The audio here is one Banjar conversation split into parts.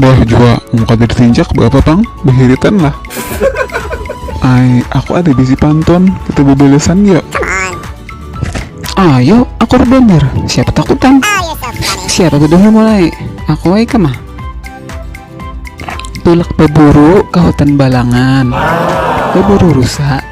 Bah jua mau kada ditinjak beapa pang, behiritan lah. Ai, aku ada bisi pantun, kita bebalesan yuk. Ayo, aku banar, siapa takutan. Siapa bedahulu mulai, aku ai kemah. Tulak beburu ke hutan balangan, beburu rusa.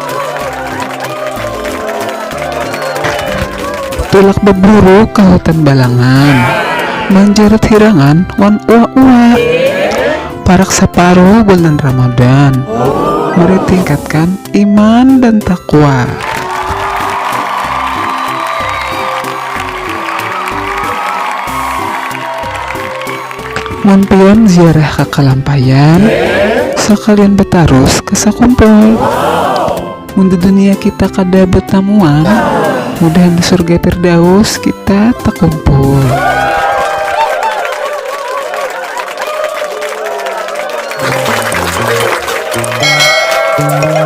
Tulak baburu ka hutan balangan manjarat hirangan wan uwak-uwak parak saparuh bulan Ramadan mari tingkatkan iman dan taqwa. Mun pian ziarah ka Kalampayan, sakalian batarus ka Sakumpul. Mun di dunia kita kada batamuan, mudahan di surga Firdaus kita takumpul.